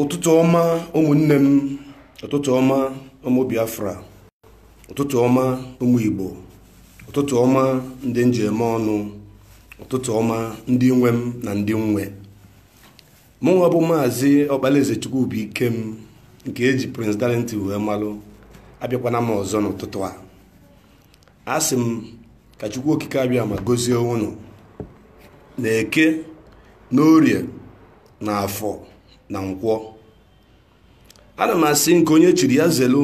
ụtụtụ ọma ụmụnne m ụtụtụ ọma ụmụ biafra ụtụtụ ọma ụmụ igbo ụtụtụ ọma ndị m ji eme ọnụ ụtụtụ ọma ndị nwe m na ndị m nwe mụnwa bụ maazị ọkpalaeze chukwubuikem nke eji prince darlington wee malụ abịakwana m ọzọ n'ụtụtụ a asị m ka chukwu okike abịama gozie unu na eke na orie na afọ na nkwọ ana m asị nke onye chiri ya zelu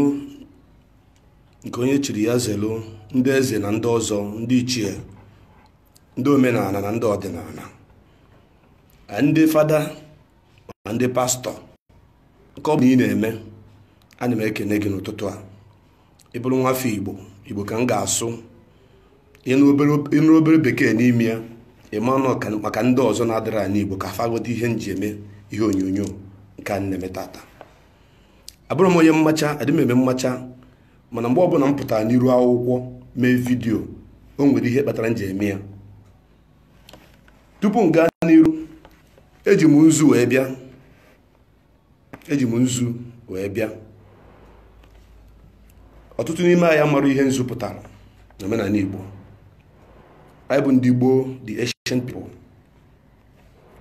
nke onye chiri ya zelu ndị eze na ndị ọzọ ndị ichie ndị omenala na ndị ọdịnala ndị fada ma ndị pastọ nke ọ bụla ị na-eme ana m ekene gị n'ụtụtụ a ị bụrụ nwafọ igbo igbo ka m ga-asụ ị nụ obere bekee n'ime ya ị ma na ọ maka ndị ọzọ na-adịrọ anụ igbo ka fa ghọta ihe m ji eme ihe onyonyo nke a m na-eme taata abụrọ m onye mmacha adị m eme mmacha mana mgbe ọbụla m pụtara n'iru akwụkwọ mee vidiyo o nwere ihe kpatara m ji eme ya tupu m gaa n'iru eji m nzu wee bịa eji m nzu wee bịa ọtụtụ n'ime anyị mara ihe nzu pụtara na omenala Igbo anyị bụ ndị gboo the ancient people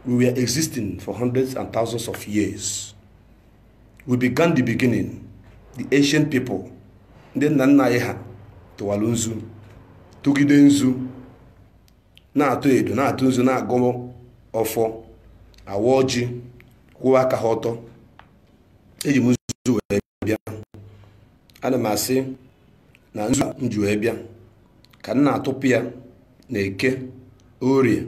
we were existing for hundreds and thousands of years we began the beginning the ancient people ndị nna nna anyị ha tụwara nzu tụgide nzu na-atụ edo na-atụ nzu na-agọ ọfọ awa ọjị kwụwa aka ha ọtọ eji m nzu wee bịa ana m asị na nzu m ji wee bịa ka m na-atụpụ ya na eke orie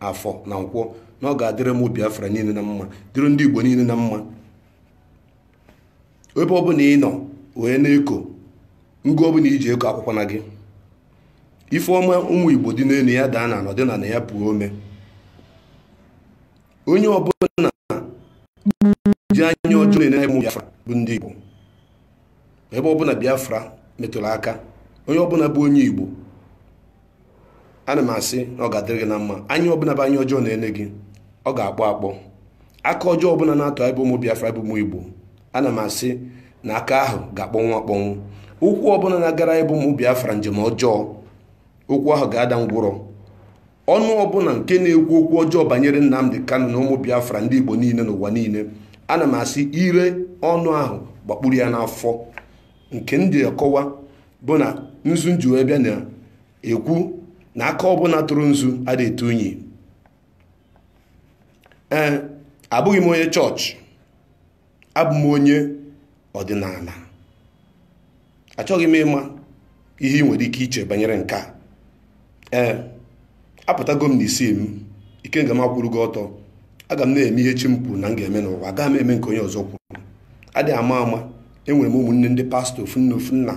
afọ na nkwọ na ọ ga-adịrị ụmụ biafra niile na mma dịrị ndị igbo niile na mma ebe ọbụla ị nọ wee na-eko ngụ ọbụla i ji eko akwakwana gị ife ọma ụmụ igbo dị n'elu ya daa n'ana ọ dị n'ana ya puo ome onye ọbụla ji anya ọjọọ na-ene ụmụ biafra bụ ndị igbo ebe ọbụla biafra metụrụ aka onye ọbụla bụ onye igbo ana m asị na ọ ga-adịrị gị na mma anya ọbụla bụ anya ọjọọ na-ene gị ọ ga-akpọ akpọ aka ọjọọ ọbụla na-atụ anyị bụ ụmụ Biafra bụ ụmụ Igbo ana m asị na aka ahụ ga-akpọnwụ akpọnwụ ụkwụ ọbụla na-agara anyị bụ ụmụ Biafra njem ọjọọ ụkwụ ahụ ga-ada ngwụrọ ọnụ ọbụla nke na-ekwu okwu ọjọọ banyere Nnamdi Kanu na ụmụ Biafra ndị Igbo niile n'ụwa niile ana m asị ire ọnụ ahụ gbakpuru ya n'afọ nke ndị akọwa bụ na nzu m ji wee bịa na-ekwu na aka ọbụla tụrụ nzu adị etu unyi ee abụghị m onye chọọchị abụ m onye ọdịnala achọghị m ịma ihe ị nwere ike iche banyere nke a ee apụtago m n'isi m ikenga m akwụrụgo ọtọ aga m na-eme ihe chi m kwuru na m ga-eme n'ụwa aga m eme nke onye ọzọ kwuru adịghị ama ama enwere m ụmụnne ndị pastọ ofu nne ofu nna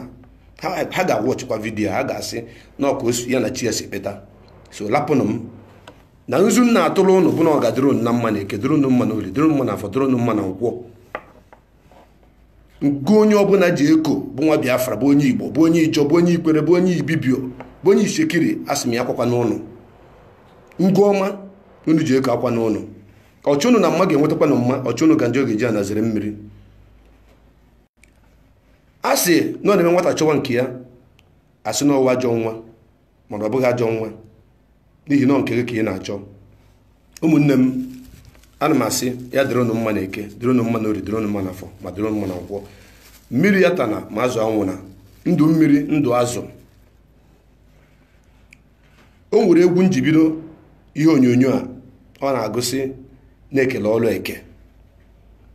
ha ga-awọchịkwa vidiyo ha ga-asị na ọ ka osu ya na chi ya si kpeta so lapụnụ m na nzu m na-atụrụ ụnụ bụ na ọ ga-adịrị ụnụ na mma na eke dịrị ụnụ mma na oli dịrị ụnụ mma na afọ dịrị ụnụ mma na nkwọ nke onye ọbụla ji eko bụ nwa biafra bụ onye igbo bụ onye ijọ bụ onye ikwere bụ onye ibibio bụ onye isekiri asị m ya akwakwana ụnụ ngwa ọma unu ji eko akwana ụnụ ọchọ ụnụ na mma ga-enwetakwanụ mma ọchọ ụnụ na njọ ga-eji ana zere mmiri a sị na ọ na-eme nwata chọwa nke ya a sị na ọ wụ ajọ nwa mana ọ bụghị ajọ nwa n'ihi na nke gị ka ị na-achọ ụmụnne m ana m asị ya dịrị ụnụ mma na eke dịrị ụnụ mma na ori dịrị ụnụ mma na afọ ma dịrị ụnụ mma na nkwọ mmiri atana ma azụ anwụna ndụ mmiri ndụ azụ o nwere egwu m ji bido ihe onyonyo a ọ na-agụ sị na e kele ọlụ eke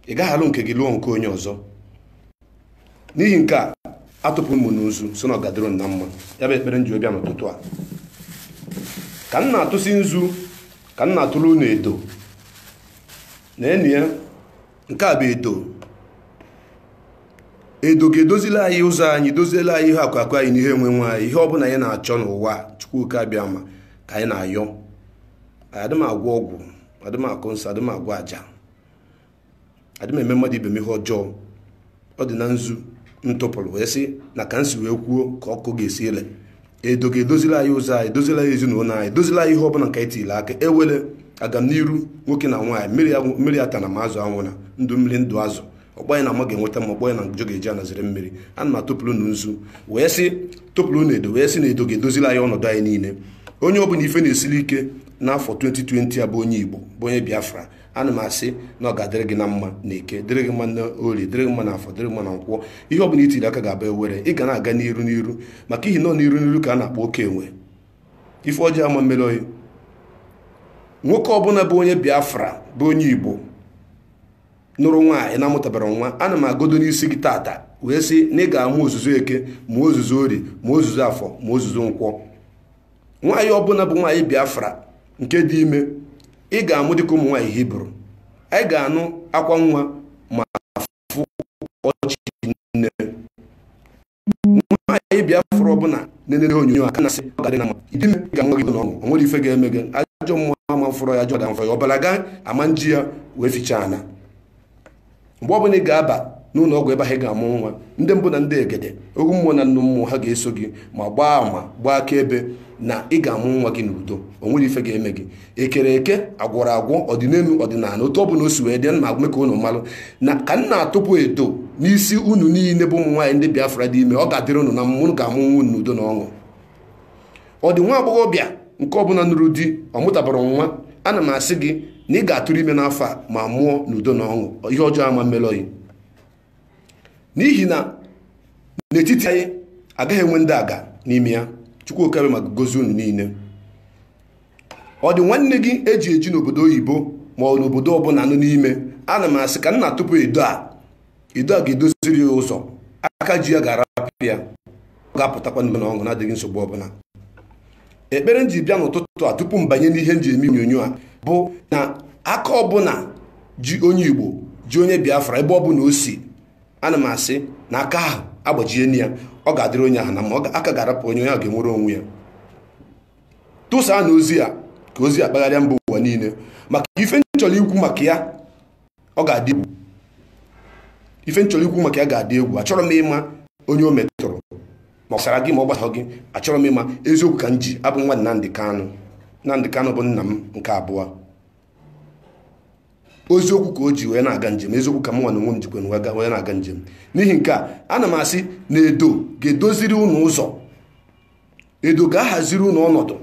ị gaghị alụ nke gị lụọ nke onye ọzọ n'ihi nke a atụpụ m ụnụ nzu sị na ọ ga-adịrị ụnụ na mma ya bụ ekpere m ji bịa n'ụtụtụ a ka m na-atụsi nzu ka m na-atụrụ unu edo neenụ ya nke a bụ edo edo ga-edozili anyị ụzọ anyị doziele anyị ihe akụ akụ anyị na ihe enwe enwe anyị ihe ọbụla anyị na-achọ n'ụwa chukwu oke abịama ka anyị na-ayọ adị m agwọ ọgwụ adị m akọ nsị adị m agwọ aja adị m eme mmadụ ibe m ihe ọjọọ ọ dị na nzu m tụpụrụ wee sị na ka m si wee kwuo ka ọ ga-esi ele edo ga-edozila anyị ụzọ anyị edozila anyị ezinụlọ anyị edozila anyị ihe ọbụla nke anyị tiri aka ewele agamniru nwoke na nwaanyị mmiri agwụ- mmiri atana ma azụ anwụna ndụ mmiri ndụ azụ ọkpọ anyị na mma ga-enweta mma ọkpọ anyị na njọ ga-eji ana zere mmiri ana m atụpụrụ unu nzu wee sị tụpụrụ unu edo wee sị na edo ga-edozila anyị ọnọdụ anyị niile onye ọbụla ife na-esiri ike n'afọ 2020 a bụ onye igbo bụ onye biafra ana m asị na ọ ga-adịrị gị na mma na eke dịrị gị mma na ori dịrị gị mma na afọ dịrị gị mma na nkwọ ihe ọ bụla i tiri aka ga-abụ ewere ị ga na-aga n'iru n'iru maka ihi na ọ n'iru n'iru ka a na-akpọ oke enwe ife ọjọọ ama mmeri oyi nwoke ọbụla bụ onye biafra bụ onye igbo nụrụ nwaanyị na-amụtabarọ nwa ana m agọdo n'isi gị tata wee sị na ị ga-amụ ozuzu eke ma ozuzu ori ma ozuzu afọ ma ozuzu nkwọ nwaanyị ọbụla bụ nwaanyị biafra nke dị ime ị ga-amụ dịka ụmụ nwaanyị hibru anyị ga-anụ akwa nwa ma fụ ọchị nne nwaanyị biafra ọbụla na-enene onyonyo a ana m asị ọ ga-adị na mma ị dị ime ị ga-amụ nwa gị n'ọṅụ o nwere ife ga-eme gị ajọ mmụọ ama fụrọ ya ajọ ga-amfọ ya ọbara gị ama nji ya wee fichaa ana mgbe ọ bụla ị ga-aba n'ụlọ ọgwụ ebe ahụ ị ga-amụ nwa ndị mbụ na ndị egede ogwu mmụọ na nnụ mmụọ ha ga-eso gị ma gbaa ama gbaa akaebe na ị ga-amụ nwa gị n'udo o nwere ife ga-eme gị ekere eke agwọrọ agwọ ọdịnelu ọdịnala otu ọ bụla o si wee dị na aga m eme ka unu malụ na ka m na-atụpụ edo n'isi unu niile bụ ụmụ nwaanyị ndị Biafra dị ime ọ ga-adịrị unu na mma unu ga-amụ nwa unu n'udo na ọṅụ ọ dị nwa agbọghọbịa nke ọbụla nụrụ di ọ mụtabara nwa ana m asị gị na ị ga-atụrụ ime n'afọ a ma mụọ n'udo na ọṅụ ihe ọjọọ ama mmelu gị n'ihi na n'etiti anyị agaghị enwe ndị aga n'ime ya chukwu oke abịama ga-agọzi unu niile ọ dị nwanne gị eji eji n'obodo oyibo ma ọ n'obodo ọbụla nọ n'ime ana m asị ka m na-atụpụ edo a edo a ga-edoziri ya ụzọ aka ji ya ga-arapụ ya ọ ga-apụtakwa n'udo na ọṅụ na-adịghị nsogbu ọbụla ekpere m ji bịa n'ụtụtụ a tupu m banye n'ihe m ji eme onyonyo a bụ na aka ọbụla ji onye igbo ji onye biafra ebe ọbụla o si ana m asị na aka ahụ agbajie ya ọ ga-adịrị onye ahụ na mma aka ga-arapụ onye onye ahụ ga-enwere onwe ya tụsaanụ ozi a ka ozi a kpagharịa mba ụwa niile maka ife m chọrọ ikwu maka ya ọ ga-adị egwu ife m chọrọ ikwu maka ya ga-adị egwu achọrọ m ịma onye o metụrụ ma ọ gbasara gị ma ọ gbasara gị achọrọ m ịma eziokwu ka m ji abụ nwa Nnamdi Kanu Nnamdi Kanu bụ nna m nke abụọ eziokwu ka o ji wee na-aga njem eziokwu ka mụnwa n'onwe m jikwanụ wee na-aga njem n'ihi nke a ana m asị na edo ga-edoziri unu ụzọ edo ga-ahaziri unu ọnọdụ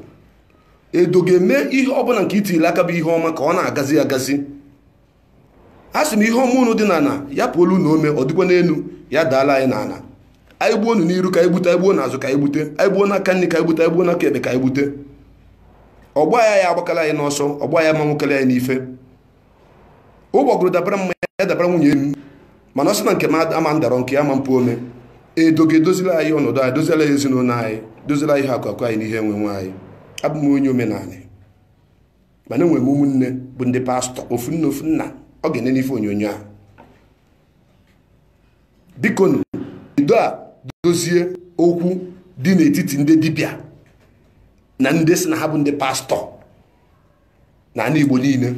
edo ga-eme ihe ọbụla nke i tiri aka bụ ihe ọma ka ọ na-agazi agazi asị m ihe ọma unu dị n'ala ya puolu unu ome ọ dịkwa n'elu ya daala anyị n'ala anyị gbuo unu n'iru ka anyị gbute anyị gbuo n'azụ ka anyị gbute anyị gbuo n'aka nri ka anyị gbute anyị gbuo n'aka ekpe ka anyị gbute ọgbọ anyị agbakala anyị n'ọsọ ọgbọ anyị ama nwekalị anyị n'ife ụgbọgụrụ dabara m ma ya dabara nwunye m mana ọ sị na nke m ama ndarọ nke ya ama mpu ome edo ga-edozila anyị ọnọdụ anyị dozila anyị ezinụlọ anyị dozila anyị ihe akụ akụ anyị na ihe enwe enwe anyị abụ m onye omenala mana enwere m ụmụnne bụ ndị pastọ ofu nne ofu nna ọ ga-enene ife onyonyo a bikonụ edo a dozie okwu dị n'etiti ndị dibịa na ndị sị na ha bụ ndị pastọ na ana Igbo niile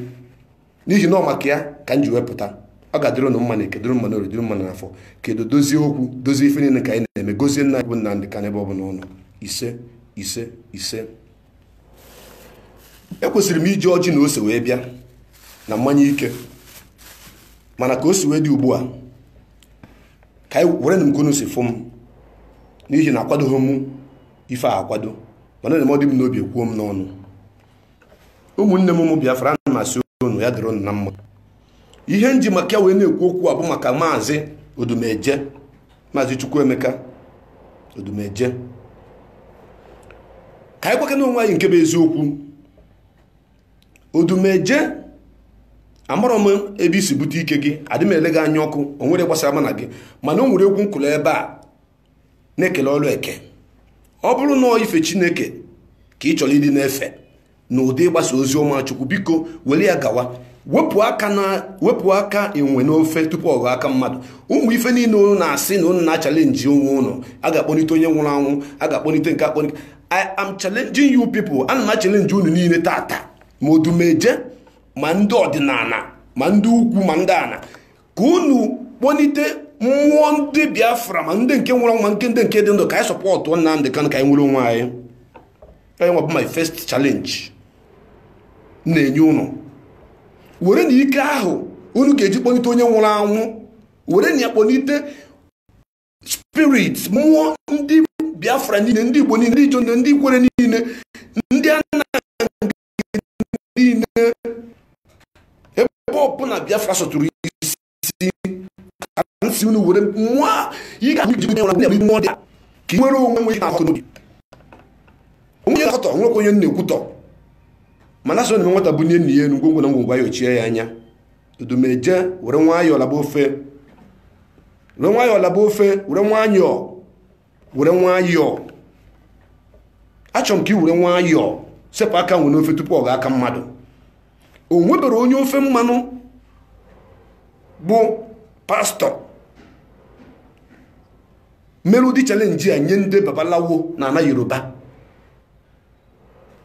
n'ihi na ọ maka ya ka m ji wepụta ọ ga-adịrị unu mma na eke dịrị mma na orie dịrị mma n'afọ kedu dozie okwu dozie ife niile ka anyị na-eme gozie nna bụ Nnamdi Kanu ebe ọ bụla ọ nọ ise ise ise ekwesịrị m iji ọjị na ose wee bịa na mmanya ike mana ka o si wee dị ugbu a ka werenụ m ka unu si fụ m n'ihi na akwadoghị m ife a akwado mana na ọ dị m n'obi ekwuo m n'ọnụ ụmụnne m ụmụ Biafra ana m asị unu ya dịrị unu mma ihe m ji maka ya wee na-ekwu okwu a bụ maka maazị odumeje maazị chukwuemeka odumeje ka anyị gwakene onwe anyị nke bụ eziokwu odumeje amarọ m ebe i si bute ike gị adị m ele gị anya ọkụ o nwere gbasara mụ na gị mana o nwere egwu nkụlụ ebe a na-ekele ọrụ eke ọ bụrụ na ọ ife chineke ka ị chọrọ ịdị na-efe n'ụdị ịgbasa ozi ọma chukwu biko were ya gawa wepụ aka enwe n'ofe tupu ọ ghọọ aka mmadụ ụmụ ife niile unu na-asị na unu na-achalenji onwe unu a ga-akpọlite onye nwụrụ anwụ a ga-akpọlite nke akpọlite I am challenging you people ana m achalenji unu niile taata ma odumeje ma ndị ọdịnana ma ndị ukwu ma ndị ana ka unu kpọlite mmụọ ndị biafra ma ndị nke nwụrụ anwụ ma ndị nke dị ndụ ka anyị sọpọtụ Nnamdi Kanu ka anyị nwere onwe anyị ọ ya nwa bụ my first challenge na-enye unu werenụ ike ahụ unu ga-eji kpọlite onye nwụrụ anwụ werenụ ya kpọlite spirit mmụọ ndị biafra niile ndị igbo niile ndị Ijaw ndị Ikwerre niile ndị Annang niile ebe ọbụla Biafra sọtụrụ isi ka m sị unu were nwa ị ga ji nwere nwere mmụọ dị ka ị nwere onwe nwere akụ n'obi onye na-akọtọ nwekwa onye na-ekwutọ mana a sị na nwata bunie nna ya enu ngwongwo na ngwongwo ayọchie ya anya odumeje were nwayọọ laba ofe were nwayọọ laba ofe were nwayọọ were nwayọọ achọrọ m ka ị were nwayọọ sepụ aka enwe n'ofe tupu ọ ghọọ aka mmadụ o nwebere onye ofe mmanụ bụ pastọ mere ụdị chalenji a nye ndị babalawo na ana yoruba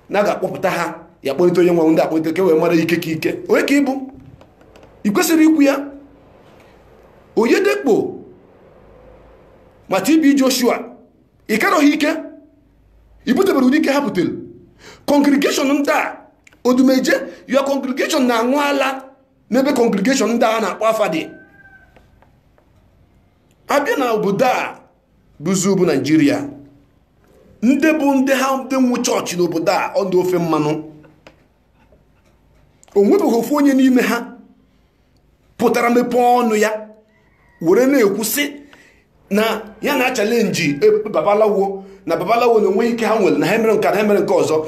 na a ga-akpọpụta ha ya kpọlite onye nwe ndị akpọlite ka e wee mara ike ka ike onye ka ị bụ ị kwesịrị ikwu ya Oyedepo ma TB Joshua ị karọ ha ike i butebere ụdị ike ha butere congregation ndị a odumeje your congregation na-aṅụ ala n'ebe congregation ndị a na-akpọ afa dị a bịa na obodo a bụzi bụ naijiria ndị bụ ndị ha ndị nwe chọọchị n'obodo a ọ ndị ofe mmanụ o nwebeghị ofu onye n'ime ha pụtara mepee ọnụ ya were na-ekwu sị na ya na-achalenji e, babalawo na babalawo na o nweghị ike ha nwere na ha mere nke na ha mere nke ọzọ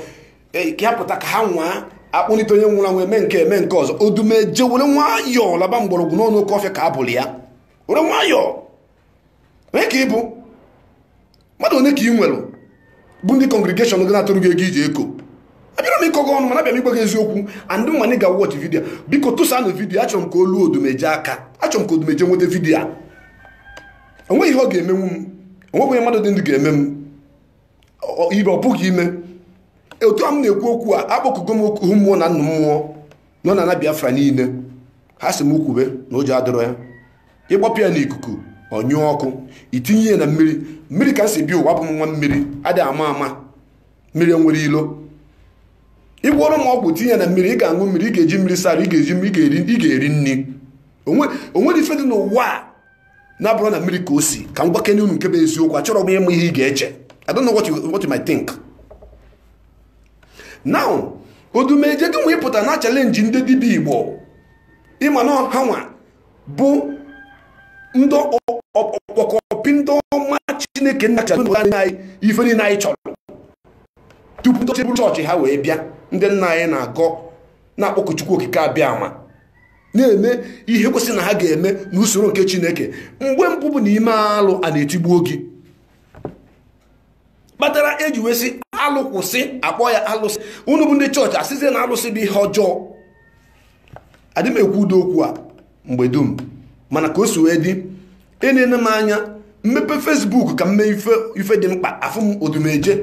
e, ka ya pụta ka ha nwaa akpọlite onye nwụrụ anwụ eme nke eme nke ọzọ odumeje were nwayọọ laba mgbọrọgwụ n'ọnụ oke ọfịa ka a bụrụ ya were nwayọọ onye ka ị bụ mmadụ one ka ị nwere bụ ndị congregation gị na-atụrụ gị ego i ji eko abịarọ m ịkọ gị ọnụ mana abịara m ịgwa gị eziokwu and nwa anyị ga-awọchị vidiyo biko tụsanụ vidiyo achọrọ m ka o luo odumeje aka achọrọ m ka odumeje nweta vidiyo a o nweghị ihe ọ ga-emenwu m o nweghị onye mmadụ dị ndụ ga-eme m ife ọ pụghị ime otu a m na-ekwu okwu a akpọkugo m okwu mmụọ na nnụ mmụọ nọ n'ana biafra niile ha sị m kwube na ụjọ adịrọ ya ị gbapụ ya n'ikuku ọ nyụọ ọkụ i tinye ya na mmiri mmiri ka m si bịa ụwa bụ nwa mmiri adịghị ama ama mmiri enwerọ ilo ị gwọọrọ m ọgwụ tinye ya na mmiri ị ga-aṅụ mmiri ị ga-eji mmiri saa arụ ị ga-eri nri o nwere ife dị n'ụwa a na-abụrọ na mmiri ka o si ka m gwakene unu nke bụ eziokwu achọrọ m ịma ihe ị ga-eche I don't know what you might think now odumeje gị nwa ị pụta na-achalenji ndị dibịa igbo ị ma na ha nwa bụ ndị ọkpọkọpị ndị ọma chineke nna anyị ife niile anyị chọrọ tupu ndị ọcha ebu chọọchị ha wee bịa ndị nna anyị na-agọ na-akpọku chukwu okike abịama na-eme ihe kwesịrị na ha ga-eme n'usoro nke chineke mgbe mbụ bụ na i mee alụ ana etigbuo gị kpatara e ji wee sị alụ kwụsị a kpọọ ya alụsị unu bụ ndị chọọchị asịzie na alụsị bụ ihe ọjọọ adị m ekwu ụdị okwu a mgbe dum mana ka o si wee dị enene m anya m mepe facebook ka m mee ife dị mkpa afụ m odumeje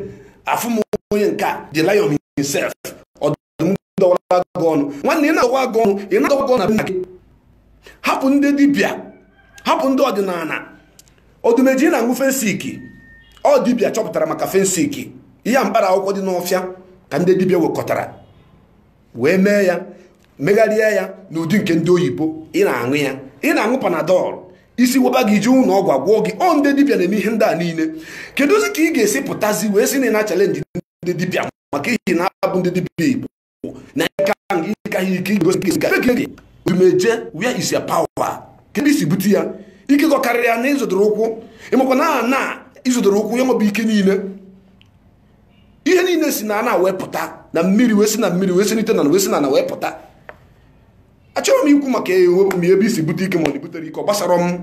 afụ m onye nke a the lion himself m dọwara gị ọnụ nwanne ị na-adọwa gị ọnụ ị na-adọwa gị ọnụ na be nna gị hapụ ndị dibịa hapụ ndị ọdịnala odumeje ị na-aṅụ phensic ọ dibịa chọpụtara maka phensic ihe a mkpara akwụkwọ dị n'ọfịa ka ndị dibịa wekọtara wee mee ya megharịa ya n'ụdị nke ndị oyibo ị na-aṅụ ya ị na-aṅụ panadol isi waba gị i jee ụlọ ọgwụ a gwọọ gị ọ ndị dibịa na-eme ihe ndị a niile kedụzi ka ị ga-esi pụtazi wee sị na ị na-achalenji ndị dibịa maka ihi na ọ bụ ndị dibịa igbo na ịka ịka ihe ike igosi gị odumeje where is your power kedu ebe i si bute ya ike gị ọ karịrị ana ị zọdoro ụkwụ ị makwa na ana ị zọdoro ụkwụ ya nwa bụ ike niile ihe niile si na ana wee pụta na mmiri wee si na mmiri wee si n'ite na wee si na ana wee pụta achọrọ m ikwu maka ebe i si bute ike ma ọ na-ebutere ike ọ gbasarọ m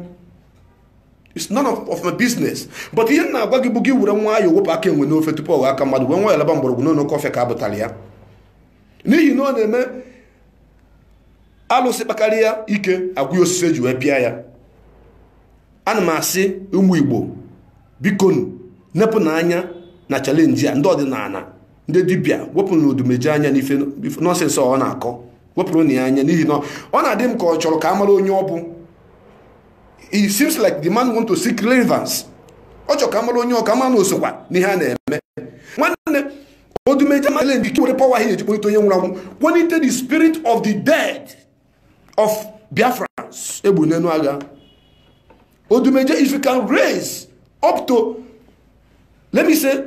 it's none of, of my business but ihe m na-agwa gị bụ gị were nwayọ wepụ aka enwe n'ofe tupu ọ ghọọ aka mmadụ were nwayọ laba mgbọrọgwụ n'ụlọ kọfị ka a bụtara ya n'ihi na ọ na-eme alụsị kpakarịa ike agwa ya osisi eji wee pịa ya ana m asị ụmụ igbo bikonu nepụnụ anya na chalenji a ndị ọdịnala ndị dibịa wepụnụ odumeje anya n'ife nọsensị ọ na-akọ wepụrụnụ ya anya n'ihi na ọ na-adị m ka ọ chọrọ ka a mara onye ọ bụ it seems like the man want to seek relevance ọ chọrọ ka a mara onye ọ ka a ma na o sokwa n'ihe a na-eme nwanne odumeje malụ na i nwere power ihe eji kpọlite onye nwụrụ anwụ kpọlite the spirit of the dead of biafrans egbu n'enu agha odumeje if you can raise up to let me say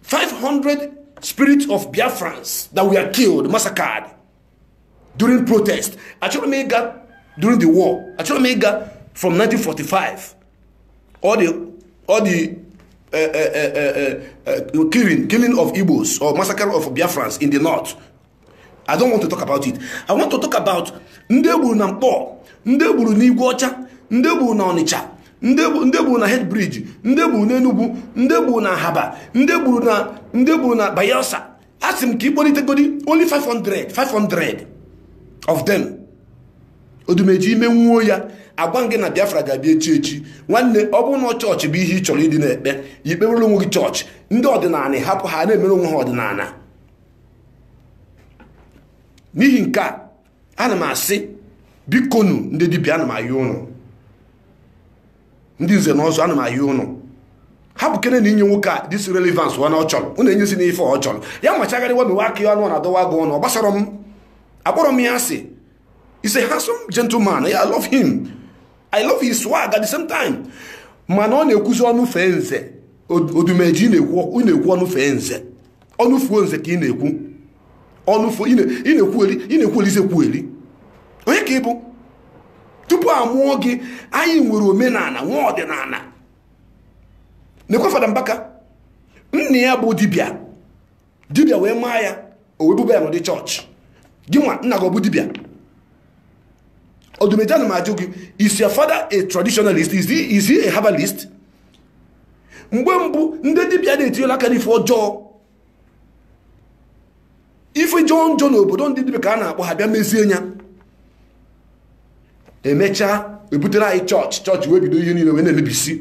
500 spirits of biafrans that were killed massacred during protest achọrọ m ịga during the war achọrọ m ịga from 1945 all the all the eh, eh, eh, killing killing of Igbos or massacre of Biafrans in the north I don't want to talk about it I want to talk about ndị egburu na Nkpọ ndị egburu n'Igweọcha ndị egburu na Ọnịcha ndị egburu na head bridge ndị egburu na Enugu ndị egburu na Ahaba ndị egburu na ndị egburu na Bayelsa asị m ka ị kpọlitegodi only 500 500 of them odumeje i menwuo ya agwa m gị na biafra ga-abịa echi echi nwanne ọ bụrụ na chọọchị bụ ihe ị chọrọ ịdị na-ekpe ya i kpewere onwe gị chọọchị ndị ọdịnala hapụ ha na-emere onwe ha ọdịnala n'ihi nke a ana m asị bikonu ndị dibịa ana m ayọ ụnụ ndị nze na ọzọ ana m ayọ ụnụ hapụkenenụ inye nwoke a this relevance ọ na ọ chọrọ ụnụ enyezina ife ọ chọrọ ya machagharịwa mewe aka ya ọnụ ọ na-adọwa agụ ọnụ ọ gbasarọ m akpọrọ m ya asị he's a handsome gentleman I love him I love his swag at the same time mana ọ na-ekwuzi ọnụ fee nze odumeje na-ekwu ọnụ fee nze ọnụ fuo nze ka ị na-ekwu ọnụ fuo ị na-ekwueli ị na-ekwuelizi ekwueli onye ka ị bụ tupu a mụọ gị anyị nwere omenala nwee ọdịnala nekwa fada mbaka nna ya bụ dibịa dibịa wee mụa ya o wee buba ya n'ụdị chọọchị gị nwa nna gị ọ bụ dibịa odumeje ana m ajụ gị is your father a traditionalist is he, is he a herbalist mgbe mbụ ndị dibịa na-etinyela aka n'ife ọjọọ ife jọọ njọ n'obodo ndị dibịa ka a na-akpọ ha bịa mezie nya emechaa ebutere anyị chọọchị chọọchị wee bido ihe niile wee na-emebisi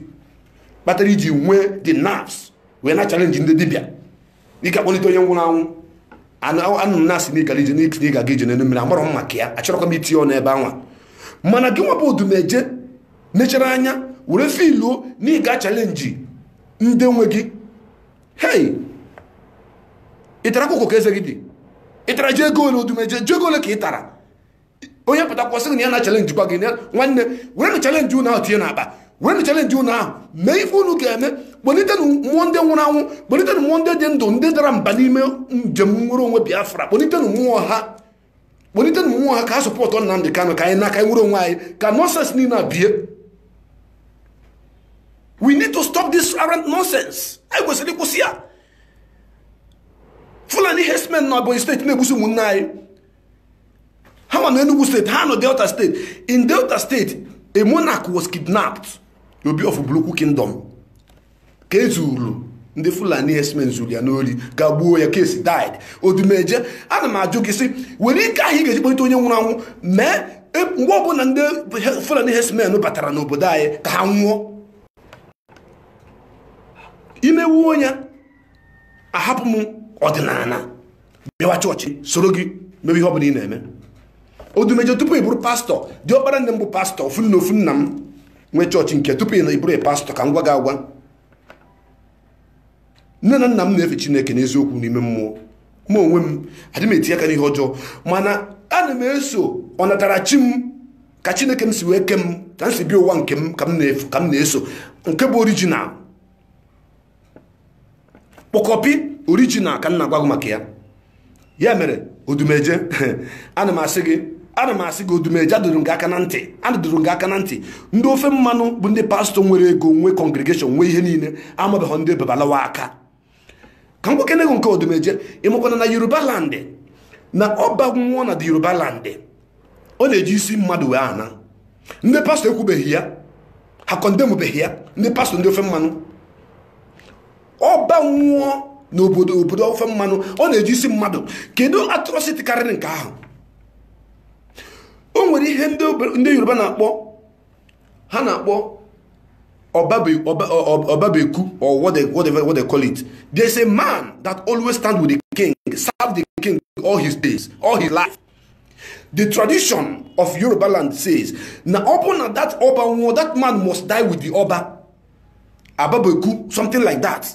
kpatara i ji nwee the nerves wee na chalenji ndị dibịa ị ga-akpọlite onye nwụrụ anwụ anụ na-asị na ị gara ije n'ị ga-aga ije n'elu mmiri amarọ m maka ya achọrọkwa m itinye ọnụ ebe anwa mana gị nwa bụ odumeje nechara anya were filuo na ị ga chalenji ndị nwe gị hei ị tara akwụkwọ ka eze gị dị ị tara ji ego ole odumeje ji ego ole ka ị tara onye pụtakwa sị na ya na-chalenjikwa gị na ya- nwanne werenụ chalenji unu ahụ tinye n'akpa werenụ chalenji unu ahụ mee ife unu ga-eme kpọlitenụ mmụọ ndị nwụrụ anwụ kpọlitenụ mmụọ ndị dị ndụ ndị dara mba n'ime njem nnwere onwe biafra kpọlitenụ mmụọ ha kpọlitenụ mmụọ ha ka ha zọpụta Nnamdi Kanụ ka anyị na ka anyị nwere onwe anyị ka nọnsens niile a bie we need to stop this arrant nonsense anyị kwesịrị ịkwụsị ya fulani herdsmen na Ebonyi steeti na-egbusi ụmụnne anyị ha ma nọ Enugu steeti ha nọ Delta steeti in Delta steeti a monarch was kidnapped Obi of Ubulu-Ukwu Kingdom ka e zuru ndị Fulani herdsmen zuru ya n'ori ga gbuo ya case died odumeje ana m ajụ gị sị were ike ahụ ị ga-eji kpọlite onye nwụrụ anwụ mee e, mgbe ọbụla ndị Fulani herdsmen batara n'obodo anyị ka ha nwụọ i mewuo ya ahapụ m ọdịnala bịawa chọọchị soro gị mewe ihe ọ bụla ị na-eme odumeje tupu ị bụrụ pastọ diọkpara nne m bụ pastọ ofu nne ofu nna m nwee chọọchị nke tupu ị na ị bụrụ pastọ ka m gwa gị agwa nne na nna m na-efe chineke n'eziokwu n'ime mmụọ ma onwe m adị m eti aka n'ihe ọjọọ mana ana m eso ọnatarachi m ka chineke m si wee ke m ka m si bịa ụwa nke m ka m na-eso nke bụ orijinal kpọkọpi original ka m na-agwa gị maka ya ya mere odumeje ana m asị gị ana m asị gị odumeje adụrụ gị aka na ntị adụrụ gị aka na ntị ndị ofe mmanụ bụ ndị pastọ nwere ego nwe kọngregeshọn nwe ihe niile amabeghị ndị babalawo aka ka m gwakene gị nke odumeje ị makwana na yoruba landị na ọba nwụọ na the yoruba landị ọ na-eji isi mmadụ wee ana ndị pastọ ekwubeghị ya ha kọndembeghị ya ndị pastọ ndị ofe mmanụ ọba nwụọ n'obodo obodo ofe mmanụ ọ na-eji isi mmadụ kedu atrọsiti karịrị nke ahụ o nwere ihe ndị yoruba na-akpọ ha na-akpọ ọbabeku or what they, what they, what they call it there's a man that always stand with the king serve the king all his days all his life the tradition of yoruba land says na ọ bụrụ na that oba nwụọ that man must die with the oba ababeku something like that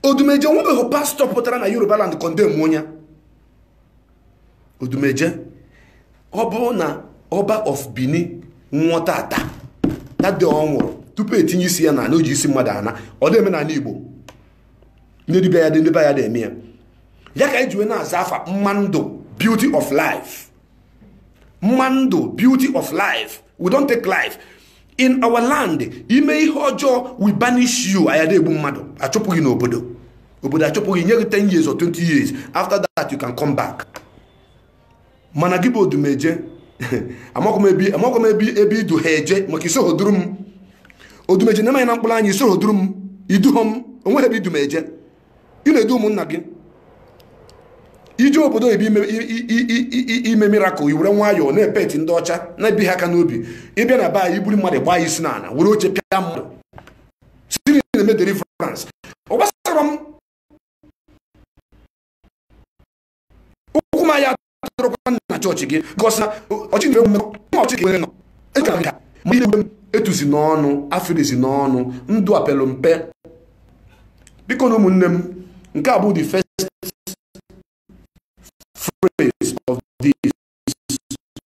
odumeje nwebeghị pastọ pụtara na yoruba land condemn onye odumeje ọ bụrụ na ọba of benin nwụọ tata that day ọ nwụrụ tupu e tinye isi ya n'ana o ji isi mmadụ ana ọ dị eme n'ana igbo ndị dibịa ya dị ndị be anyị adị eme ya ya ka ejiwe na-aza afa mma ndụ beauty of life mma ndụ beauty of life we don't take life in our land i mee ihe ọjọọ we banish you anyị adị egbu mmadụ achụpụ gị n'obodo obodo achụpụ gị nye gị 10 years or 20 years after that you can come back mana gị bụ odumeje amakwa m ebe amakwa m ebe ebe i du ha eje maka i soho duru m odumeje na-eme ya na mkpụrụ anya i soho duru m i duho m onweghị ebe i du m eje ị na-edu ụmụnna gị i jee obodo oyibo ime i- i- i- i- i- ime mirakụl i were nwayọọ na-epeti ndị ọcha na-ebi ha aka n'obi ị bịa na be anyị i buru mmadụ gbaa ya isi n'ala were oche pịa mmadụ sị ị na-eme deliverance ọ gbasara m ụkwụ m anya atụrụkwa na chọọchị gị gọsị na ọchị na-enwe mmekọ ma ọchị nwere nọ eji aga ma ị na-enwe etuzi n'ọnụ afirizi n'ọnụ ndo epelu m mpe biko na ụmụnne m nke a bụ the first phrase of this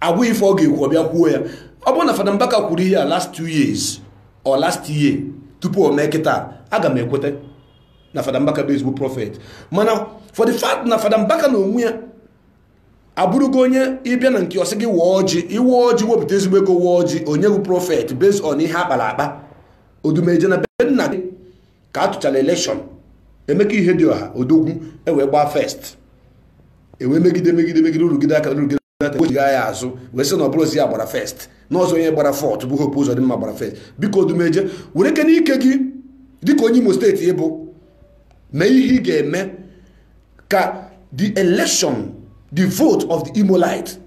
agwa ife ọ ga-ekwu ọ bịa kwuo ya ọ bụrụ na Fada Mbaka kwuru ihe a last two years or last year tupu o mee kịta aga m ekweta na Fada Mbaka bụ ezigbo prọfet mana for the fact na Fada Mbaka na onwe ya abụrụgo onye ị bịa na nke ọ sị gị waa ọjị i wee ọjị wepụta ezigbo ego waa ọjị onye bụ prọfet based on ihe akpara akpa odumeje na be nna gị ka a tụchara elekshọn emeka ihedioha odogwu ewee gbaa fest ewee megide megide megide rụgide aka rụgide aka wee jigha ya azụ wee sị na ọ bụrọzi ya gbara fest n'ọzọ onye gbara fọt bụ hope uzodimma gbara fest biko odumeje were ike n'ike gị dịka onye imo steeti ị bụ mee ihe ị ga-eme ka the election the vote of the imolite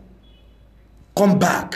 come back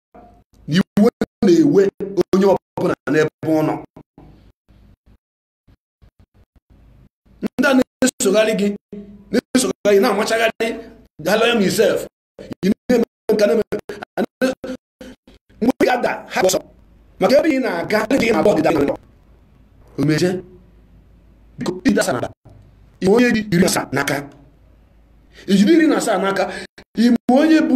na iwe na-ewe onye ọbụla n'ebe ọ nọ ndị a na-esogharị gị na-esogharị na-amachagharị galaya misef ị na-eme nka na-eme mgbe ya da ha ọsọ maka ebe ị na-aga gị na-abụ ọdịda odumeje biko ịdasa na ime onye dị iri asaa n'aka ijiri iri na asaa n'aka ime onye bụ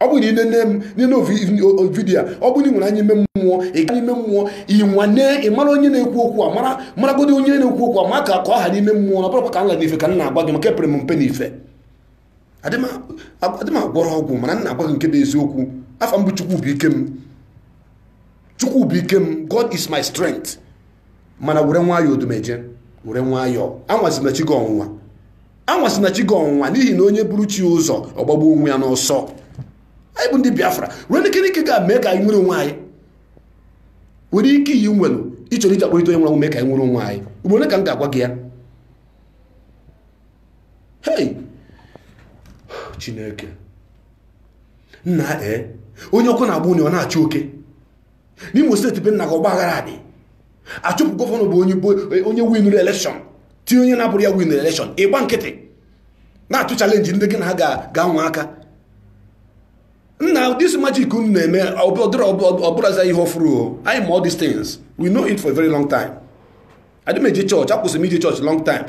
ọ bụrụ na ị na-ene m na vidiyo ọ bụrụ ị nwere anya ime mmụọ ị gaa n'ime mmụọ ịnwane ị mara onye na-ekwu okwu a mara maragodi onye na-ekwu okwu a maka ka m ha n'ime mmụọ na abụrọkwa ka m ra n'ife ka m na-agwa gị maka epere m mpe n'ife adị m agwọrọ ọgwụ mana m na-agwa gị nke bụ eziokwu afa m bụ chukwubuikem chukwubuikem god is my strength mana were nwayọọ odumeje were nwayọọ anwazina chi gị ọnwụnwa anwazịna chi gị ọnwụnwa n'ihi na onye buru chi ụzọ ọ gbagbuo onwe ya n'ọsọ anyị bụ ndị biafra were ike ike ga mee ka anyị nwere onwe anyị were ike iyi nwelu ị chọrọ iji akpọrịta onye nwere mee ka anyị nwere onwe anyị ugboro one ka m ga-agwa gị ya hei chineke nna ee onye ọkụ na-agba ụnọ ya ọ na-achụ oke n'imo steeti be nna gị ọgba aghara dị a chụpụ gọvanọ bụ onye winụrụ elekshọn tinye onye na-abụrọ ya winụrụ elekshọn ị gba nkịtị na-atụ chalenji ndị gị na ha ga-anwa aka nna this magic unu na-eme ọ bụrọzị ihe ọfụrụ o anyị ma all these things we know it for a very long time adị m eje chọọchị akwụsị m ije chọọchị long time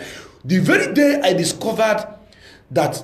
the very day i discovered that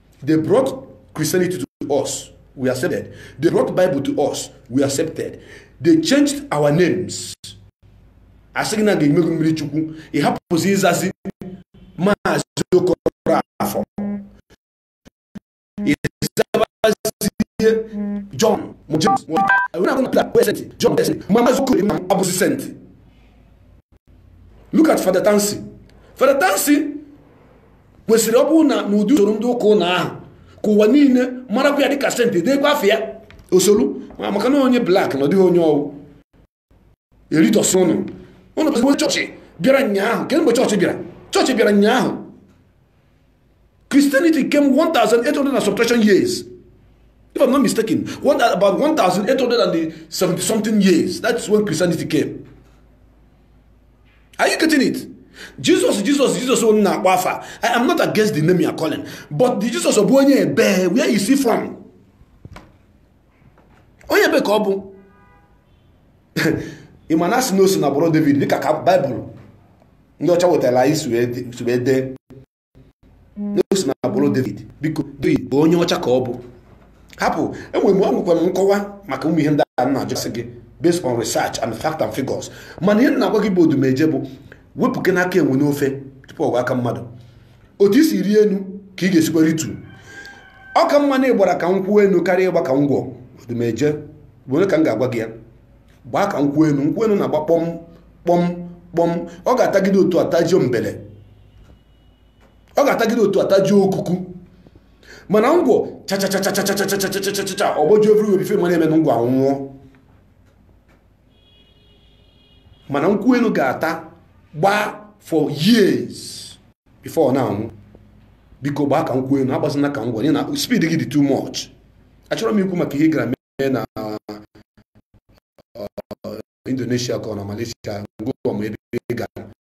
They brought Christianity to us. We accepted. They brought Bible to us. We accepted. They changed our names. a sị gị na gị emego mmiri chukwu ị hapụzi ịzazi maazị okoroafọ ị zabazie John James John maazị okoro ama abụzi senti look at Father Tansi Father Tansi kwesịrị ọ bụrụ na n'ụdị usoro ndị ụka ụnụ ahụ ka ụwa niile marakwa ya dịka senti deekwa afa ya osolu maka na onye blak na ọ dịghị onye ọ wụ eritọsị ụnụ ụnụ bụ chọọchị bịara ụnyaahụ kedụ mgbe chọọchị bịara chọọchị bịara ụnyaahụ Christianity came 1800 and some fraction years if I'm not mistaken one, about 1870 something years that's when Christianity came are you getting it jesus jesus jesus unu na-akpọ afa i am not against the name you are calling but the jesus bụ onye ebee where is he from onye ebee ka ọ bụ ị ma na a sị na o si na agbụrụ david dịka ka baịbụl ndị ọcha wetara anyị si wee dee na o si na agbụrụ David biko David bụ onye ọcha ka ọ bụ hapụ enwere m enwekwa m nkọwa maka ụmụ ihe ndị a na-ajụsị gị based on research and fact and figures mana ihe m na-agwa gị bụ odumeje bụ wepụnụ aka enwe n'ofe tupu ọ ghọọ aka mmadụ otu i si rịa enu ka ị ga-esikwa rịtuo ọ ka mma na ị gbara ka nkwụ enu karịa ịgba ka ngwọ odumeje ugboro one ka m ga-agwa gị ya gbaa ka nkwụ enu nkwụ enu na-agba kpọm kpọm kpọm ọ ga-atagide otu a tajuo mbele ọ ga-atagide otu a tajuo okuku mana ngwọ chachacha ọ gbọjuo everywhere before ị ma ihe na-emenụ ngwọ anwụọ mana nkwụ enu ga-ata gbaa for years before ọ na-anwụ biko gbaa ka nkwụ enu agbazina ka ngwọ na speed gị dị too much achọrọ m ikwu maka ihe gara mee na Indonesia ka ọ na Malaysia ngwa ma ebe ị gara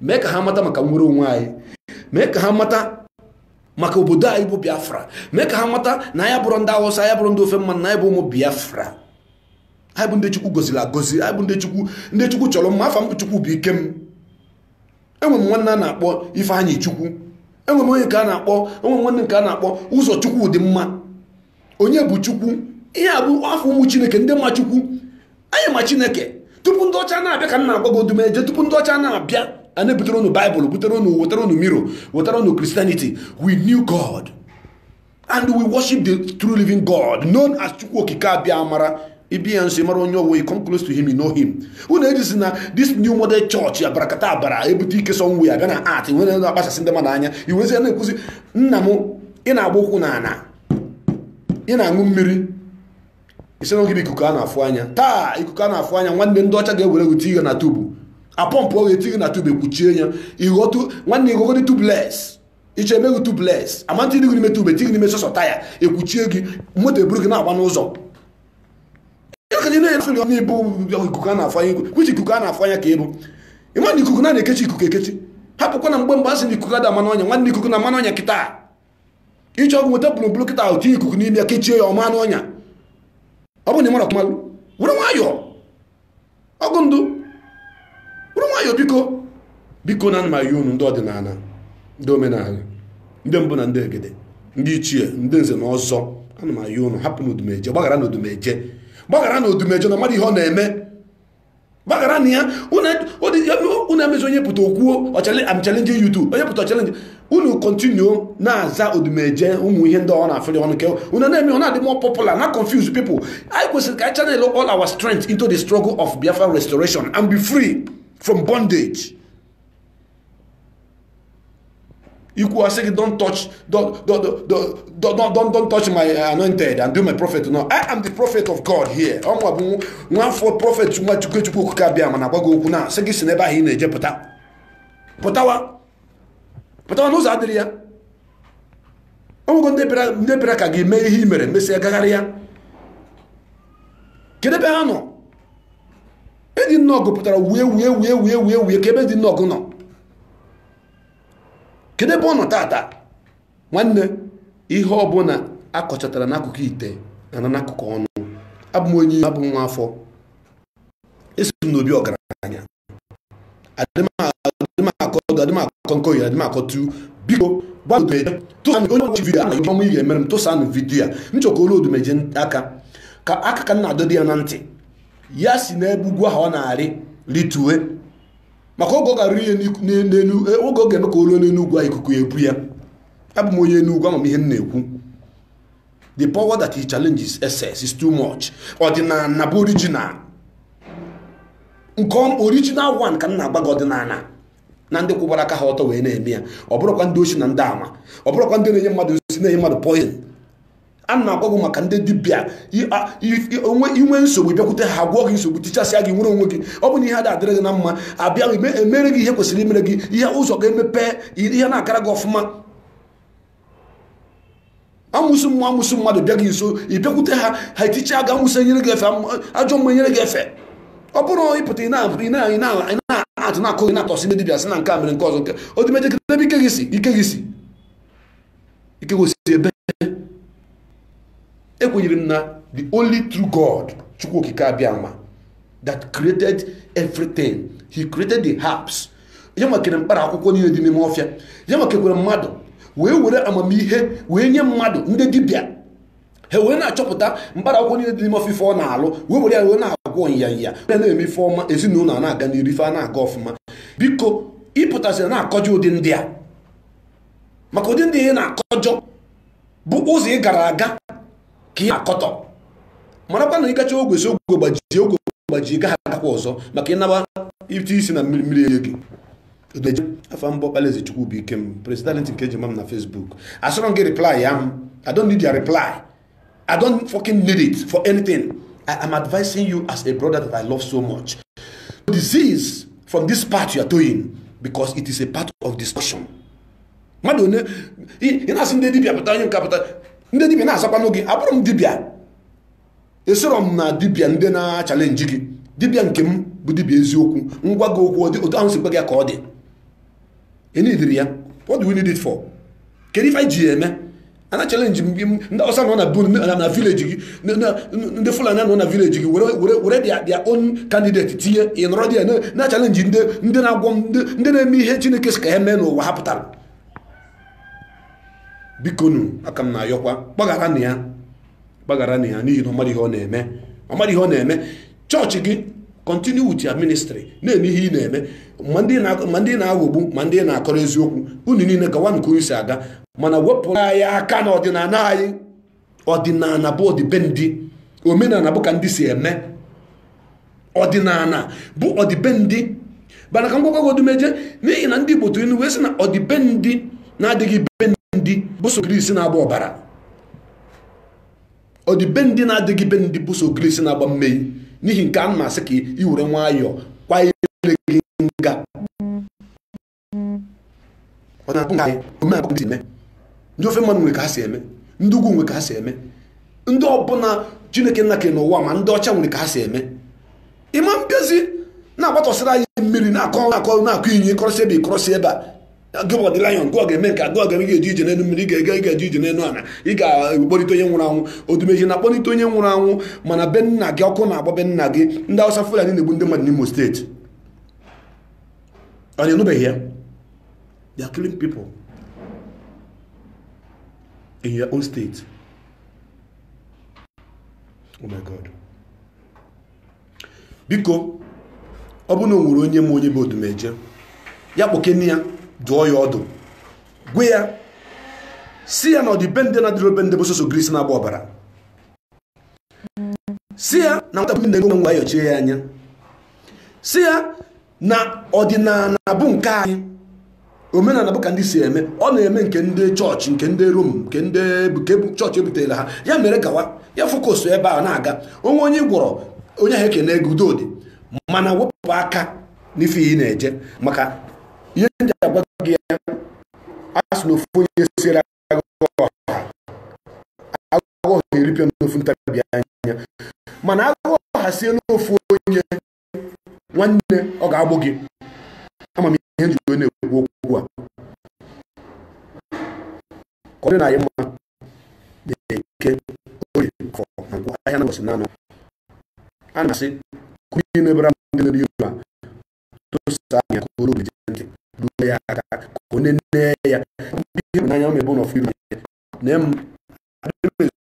mee ka ha mata maka nwere onwe anyị mee ka ha mata maka obodo anyị bụ biafra mee ka ha mata na anyị abụrọ ndị awụsa anyị abụrọ ndị ofe mmanụ na anyị bụ ụmụ biafra anyị bụ ndị chukwu goziri agozi anyị bụ ndị chukwu chọrọ mma afa m bụ chukwu bụ ike m enwe m nwanne a na-akpọ ifeanyị chukwu enwe m onye nke a na-akpọ enwe m nwanne nke a na-akpọ ụzọ chukwu dị mma onye bụ chukwu ihe a bụ afa ụmụ chineke ndị ma chukwu anyị ma chineke tupu ndị ọcha na-abịa ka m na-agwa gị odumeje tupu ndị ọcha na-abịa a na-ebutere unu baịbụl butere unu wetara unu mirror wetara unu christianity we knew god and we worship the true living god known as chukwu okike abịamara ị bịa nso ị mara onye ọ wụ you come close to him you know him unu ejizi na this new model church ya barakata abara ebute ike somewhere bịa na art nwere na-akpachasị ndị mmadụ anya iwezi ya na-ekwuzi nna m ị na-agba ụkwụ n'ala ị na-aṅụ mmiri ị sị na gị bụ ikuku a na-afụ anya taa ikuku a na-afụ anya nwanne ndị ọcha ga-ewere gị tighe na tubu apọmpụ ọ ga-etighe na tubu ekpuchie ya ighọtụ nwanne ighọgodi tubeless ị chọọ e mee gị tubeless amantị dị gị n'ime tube tighe n'ime sọsọ taya ekpuchie gị moto eburu gị na-agba n'ụzọ na ị bụ ikuku a na-afụ anya which ikuku a na-afụ anya ka ị bụ ị ma na ikuku na-ekechi ikuku ekechi hapụkwa na mgbe mgbe a sị na ikuku ada ama n'ọnya nwanne ikuku na-ama n'ọnya kịta ị chọọ gị nweta bulumbulu kịta ahụ tinye ikuku n'ime ya kechie ya ọ ma n'ọnya ọ bụrụ na ị marọ ka ị malụ were nwayọọ ọgụ ndụ were nwayọọ biko biko ana m ayọ unu ndị ọdịnala ndị omenala ndị mbụ na ndị egede ndị ichie ndị nze na ọzọ ana m ayọ unu hapụnụ odumeje gbagharanụ odumeje gbagharanụ odumeje na ọ madụ ihe ọ na-eme gbagharanụ ya unu emezi onye pụta o kwuo am challenging you too onye pụta ọ challenge unu continue na-aza odumeje ụmụ ihe ndị ọ na-afụli ọnụ ke unu na-eme ọ na-adị more popular na-confuse people anyị kwesịrị ka anyị channel all our strength into the struggle of Biafra restoration and be free from bondage i kwuwa a sị gị don't touch don't, don't, don't, don't, don't touch my anointed and do my prophet no i am the prophet of god here ọ mụwa bụ nwafọ prophet nwa chukwu chukwu okike abịama na-agwa gị okwu na-asị gị si n'ebe ahụ ị na-eje pụta pụtawa pụtawa na ụzọ adịrọ ya o nwego ndị bịara ka gị mee ihe i mere mesịa gaghara ya kedu ebe ha nọ eddy nawgu pụtara wue wue wue wue wue wue kee ebe eddy nawgu nọ kedu ebe ọ nọ tata nwanne ihe ọbụla akọchatara n'akụkụ ite na-ana n'akụkụ ọnụ abụ m onye abụ m nwa afọ esi m n'obi ọgaranya adịmakọ nke oyi adịmakọ tu biko gbagodo tụsanụ onye ọchị vidiyo ahụ ọmụ ihe mere m tụsanụ vidiyo a m chọ ka o lu odumeje aka ka aka ka m na-adọdị ya na ntị ya si n'ebe ugwu ahụ ọ na-arị ritue maka oge ọ ga-arị ya n'elu oge ọ ga-eme ka o lu n'elu ugwu a ikuku ebu ya abụ m onye enugwu ama m ihe m na-ekwu the power that he challenges excess is too much ọdịnala bụ original nke original one ka m na-agwa gị ọdịnala na ndị kwụbara aka ha ọtọ wee na-eme ya ọ bụrọkwa ndị oshi na ndị ama ọ bụrọkwa ndị na-enye mmadụ nsi na-enye mmadụ poison ana m agwa gị maka ndị dibịa i nwee nsogbu bịakwute ha gwọọ gị nsogbu tichasịa gị nwere onwe gị ọ bụ na ihe a adịrọ gị na mma a bịa mere gị ihe kwesịrị imere gị ihe ụzọ ga-emepe ihe na-agara gị ọfụma amụsụ mmụọ amụsụ mmadụ bịa gị nso ị bịakwute ha ha etichaa gị amụsụ enyere gị efe am- ajọ mmụọ enyere gị efe ọ bụrọ ị pụta ị na- ị na- ị na- ị na-atụ na-akụ gị na-atọsị ndị dibịa sị na nke a mere nke ọzọ nke odumeje kee n'ebe ike gị si ike gị si ike gị si ebe ekwenyere m na the only true god chukwu okike abịama that created everything he created the herbs ya nwa kere mkpara akwụkwọ niile dị n'ime ọfịa ya nwa kekwere mmadụ wee were amamihe wee nye mmadụ ndị dibịa ha wee na-achọpụta mkpara akwụkwọ niile dị n'ime ọfịa ife ọ na-alụ wee were ya wee na-agwọ nyanya ya na-eme ife ọma ezinụlọ na-aga n'iru ife ana-aga ọfụma biko ị pụtasịrị na-akọjọ ụdị ndị a maka ụdị ndị ị na-akọjọ bụ ụzọ ị gara aga ka ị na-akọtọ marakwa na ị gachaa ogwe sị ogwe gbajie ogwe gbajie ị gaghị agakwa ọzọ maka ị naba i tie isi na mmiri mmiri erie gị odumeje afa m bụ ọkpalaeze chukwubuikem president nke eji ma m na facebook asịrọ m gị reply ya m i don't need your reply i don't fucking need it for anything i am advising you as a brother that i love so much desist from this path you are doing because it is a path of destruction mmadụ onye ị na-asị ndị dibịa pụta onye nke a pụta ndị dibịa na-azakwanụ gị abụrọ m dibịa esoro m na dibịa ndị na-achalenji gị dibịa nke m bụ dibịa eziokwu m gwa gị okwu otu ahụ si gwa gị ya ka ọ dị enidirọ ya what do we need it for kedu ife anyị ji ya eme a na-achalenji ndị awụsa nọ na be unu na vileji gị ndị fulani nọ na vileji gị were their own candidate tinye ị nọrọ dị ya na-achalenji ndị na-agwọ ndị na-eme ihe chineke sị ka ha mee n'ụwa ha pụtara bikonu aka m na-ayọkwa gbagharanụ ya gbagharanụ ya n'ihi na ọ marọ ihe ọ na-eme ọ marọ ihe ọ na-eme chọọchị gị continue with your ministry na-eme ihe ị na-eme ma ndị na- ma ndị ị na-aghọgbu ma ndị ị na-akọrọ eziokwu unu niile gawa nke unu si aga mana wepụrụ anyị aka na ọdịnala anyị ọdịnala bụ ọdịbendị omenala bụ ka ndị si eme ọdịnala bụ ọdịbendị mana ka m gwakwagodu Odumeje n'ihi na ndị Igbo tụrụ inu wee sị na ọdịbendị na-adịghị be ndị bụ sọ ogirisi na-agba ọbara ọdịbendị na-adịghị be ndị bụ sọ ogirisi na-agba mmei n'ihi nke a m asị ka ị were nwayọọ kwa ile gị nga ọ na-abụ nke anyị omenala ndị eme ndị ofe mmanụ nwere ka ha si eme ndị ugwu nwere ka ha si eme ndị ọbụla chineke nna kere n'ụwa ma ndị ọcha nwere ka ha si eme ị ma bịazi na-agbatọsịrị anyị mmiri na-akọ na-akọ na-akọ inyi kọrọsị ebe ịkọrọsị ebe a gị bụ the lion nke ọ ga-eme nke agụ ga ị ga-eji ije n'elu mmiri ị ga-ega ị ga-eji ije n'elu ala ị ga-akpọlite onye nwụrụ anwụ odumeje na-akpọlite onye nwụrụ anwụ mana be nna gị ọkụ na-agba be nna gị ndị awụsa fulani na-egbu ndị mmadụ n'imo steeti and you no dey hear they are killing people in your own state oh my god biko ọ bụrụ na o nwere onye ma onye bụ odumeje ya kpọkene ya dụọ ya ọdụ gwa ya sị ya na ọdịbendị na-adịrọ be ndị bụ sọsọ ogirisi na-agba ọbara sị ya na nwata bu nna enu nwa ayọchie ya anya sị ya na ọdịnala bụ nke anyị omenala bụ ka ndị si eme ọ na-eme nke ndị chọọchị nke ndị rom nke ndị nke bụ chọọchị ebutere ha ya mere gawa ya focus ebe ọ na-aga o nwee onye ọ gwọrọ onye ahụ ekene ego udo adị mana wepụ aka n'ife ị na-eje maka ihe m ji agwa gị ya a sị na ofu onye siere ọha ọha eripịa n'ofu ntabi anya mana ọha siela ofu onye nwanne ọ ga-egbu gị ama m ihe m jikwa wee na-ekwu okwu a ka ọ dịrị anyị mma n'eke oye afọ na nkwọ ahịa na mbọsị n'anọ a na-asị kụrụ ihe na-ebere ndị na-eri ilu a tosa anya ka olu obi ntị ruo ya aka ka onye nne ya ihe bụ n'anya ọ na-ebe ụlọ firi na m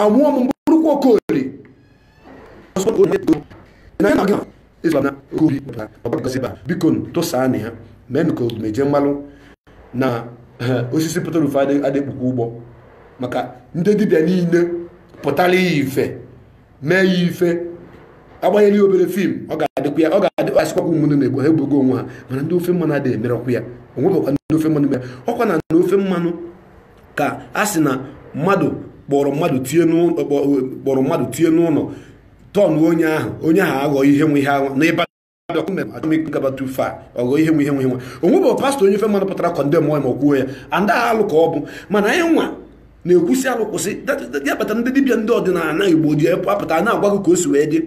amụọ m bụrụkwa okoli biko tụsaanụ ya mee ka odumeje malụ na osisi pụtara ufe adị akpụkwa ụgbọ maka ndị dibịa niile pụtara ya ife mee ya ife agbanyere ya obere fim ọ ga-adịkwa ya ọ ga-adịkwa a sịkwakwa ụmụnne na-egbu ha egbugo onwe ha mana ndị ofe mmanụ adịghị emerọkwa ya o nwebekwa ndị ofe mmanụ mere ọkwa na ndị ofe mmanụ ka a sị na mmadụ kpọrọ mmadụ tie n'ụlọ tọn onye ahụ onye ahụ aghọ ihe nwe ihe ahụ n'ịba gabatu fa ọghọ ihe nwe ihe nwe nwa onwebe pastọ onye ofe mmanụ pụtara kọndem onye ma kwuo ya and aha alụ ka ọ bụ mana anyị nwa na-ekwusi alụ kwụsị ya kpata ndị dibịa ndị ọdịnala igbo ji apụta na-agwa gị ka o si wee dị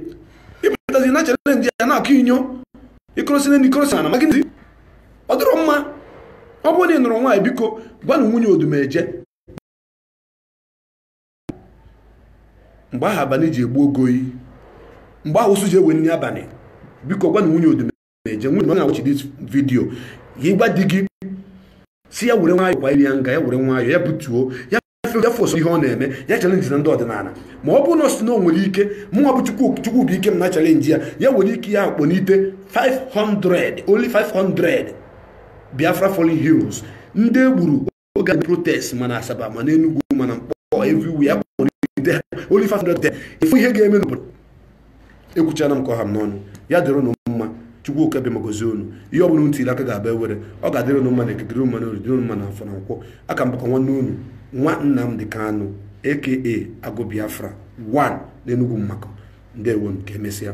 ịpụtazi na-achalenji ya na-akụ inyo ịkụrụsị na ndị kụrụsị na magị ọ dịrọ mma ọ bụrụ na ị nụrụ nwaanyị biko gwanụ nwunye odumeje mgbe ahụ abalị ji egbu ogo oyi mgbe ahụ ụsụ ji ewe nri abalị biko gwanụ nwunye odumeje nwunye na ọ na-awachi dis vidio gị gwa di gị sị ya were nwayọọ kwa iri ya nga ya were nwayọọ ya butuo ya ya fos ihe ọ na-eme ya chalenjina ndị ọdịnala ma ọ bụrụ na ọ sị na o nwere ike mụnwa bụ chukwubụikem na-achalenji ya ya nwere ike ya kpọlite 500 only 500 biafra fallen heroes ndị e gburu oge protest ma na asaba ma na enugwu ma na mkpọ everywhere ya kpọlite ha only 500 ị fụ ihe ga-eme n'obodo ekwuchana m ka ọ ha m n'ọnụ ya dịrị ụnụ mma chukwu oke abịama gọzie unu ihe ọ bụla unu tiri aka ga-aba ewere ọ ga-adịrị ụnụ mma na eke dịrị mma na orie dịrị mma na afọ na nkwọ a ka m bụkwa nwanne unu nwa Nnamdi Kanu aka Agụ Biafra 1 n'Enugu Mmaku ndewo nụ ka emesịa